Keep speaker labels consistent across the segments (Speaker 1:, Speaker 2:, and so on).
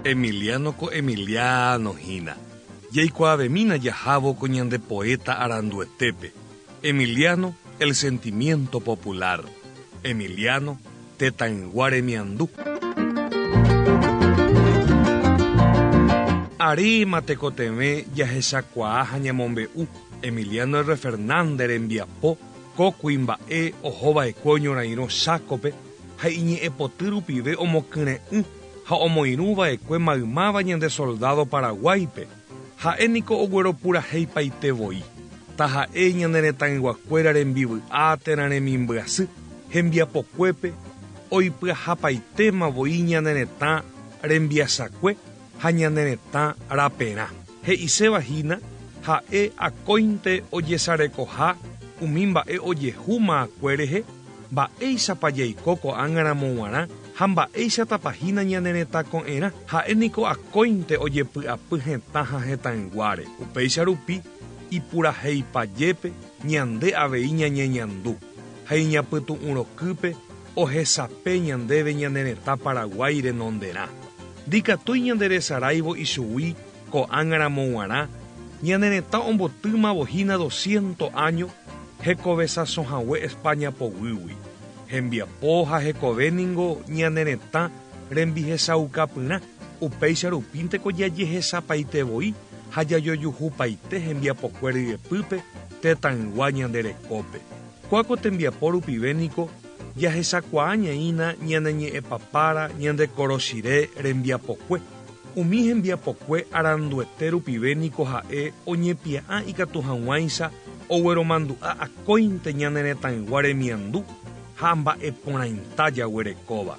Speaker 1: Emiliano ko Emiliano hína. Jaikuaavemína jahávo ko ñande poéta aranduetépe, Emiliano el sentimiento popular, Emiliano tetãygua remiandu. Aréma tekotevẽ jahechakuaa ha ñamombe'u Emiliano R. Fernández rembiapo Ko kuimba'e oho va'ekue oñorairõ chákope ha iñe'ẽ poty rupive omokyre'ỹ ha omoirũ va'ekue maymáva ñande soldádo Paraguáipe, ha'e niko ogueropurahéipaite voi, taha'e ñane retãyguakuéra rembivy'a térã remimbyasy hembiapokuépe oipyahapaitéma voi ñane retã rembiasakue ha ñane retã raperã. He'iséva hína, ha'e akóinte ojesarekoha umi mba'e ojehu ma'akue rehe, mba'éichapa jaiko ko'ág̃aramo g̃uarã ha mba'éichatapa hína ñane retã ko'ẽrã. Ha'e niko akóinte ojepy'apy hetã ha hetãyguáre. Upéicha rupi, ipurahéipa jépé, ñande avei ñañeñandu, ha iñapytu'ũ rokýpe ohesape ñandéve ñane retã Paraguái renonderã. Ndikatúi ñanderesaráivo ichugui ko'ág̃a ramo guarã, ñane retã ombotýmavo hína dosciento áño hekovesasõ hague España poguýgui. Hembiapo ha hekove ningo ñane retã rembihesaukapyrã, upéicha rupínte ko jajehesapaite voi ha jajojuhupaite hembiapokué ryepýpe tetãygua ñande rekópe. Kua ko tembiapo rupive niko jahechakuaa ñaĩna ñane ñe'ẽpapára ñande korochire rembiapokue. Umi hembiapokue aranduete rupive niko ha'e oñepia'ã ikatu hag̃uáicha ogueromandu'a akóinte ñane retãygua remiandu ha mba'e porãita jaguerekóva.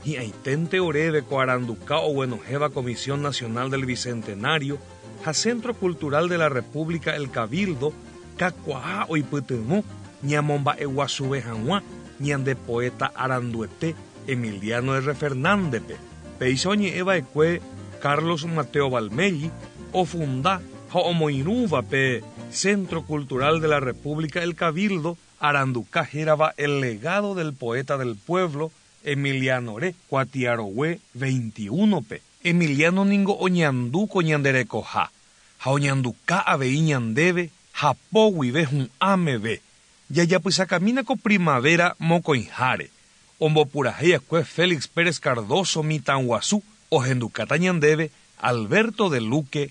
Speaker 1: Hi'ãiténte oréve ko aranduka oguenohẽva Comisión Nacional del Bicentenario, ha Centro Cultural de la República El Cabildo kakuaa oipytyvõ ñamomba'eguasuve hag̃ua ñande poéta aranduete Emiliano R. Fernández-pe, péicha oñe'ẽ va'ekue Carlos Mateo Valmelli ofunda ha omoirũva pe Centro Cultural de la República El Cabildo aranduka hérava El Legado del Poeta del Pueblo Emiliano-re Kuatiarogue 21-pe. Emiliano ningo oñandu ko ñande rekoha ha oñanduka avei ñandéve hapo guive hu'ã meve. Jajapysakamína ko primavera mokõiháre, ombopurahéi akue Félix Pérez Cardoso mitãguasu ohendukáta ñandéve Alberto de Luque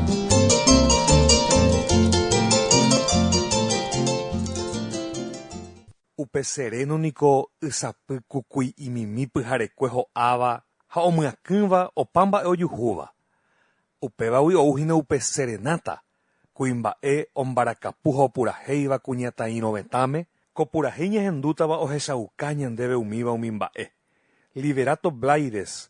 Speaker 1: Upe seréno niko ysapy kukui imimi pyharekue ho'áva ha omyakỹva opa mba'e ojuhúva. Upévagui ou hína upe serenáta, kuimba'e ombarakapu ha opurahéiva kuñataĩrovetãme, ko purahéi ñahendútava ohechauka ñandéve umíva umi mba'e. Liberato Blaides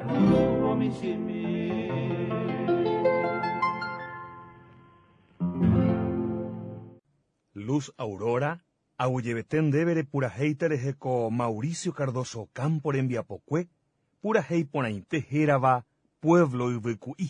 Speaker 1: Luz Aurora, aguyjevete ndéve repurahéite rehe ko Mauricio Cardoso Ocampo rembiapokue purahéi porãite hérava Pueblo Yvyku'i.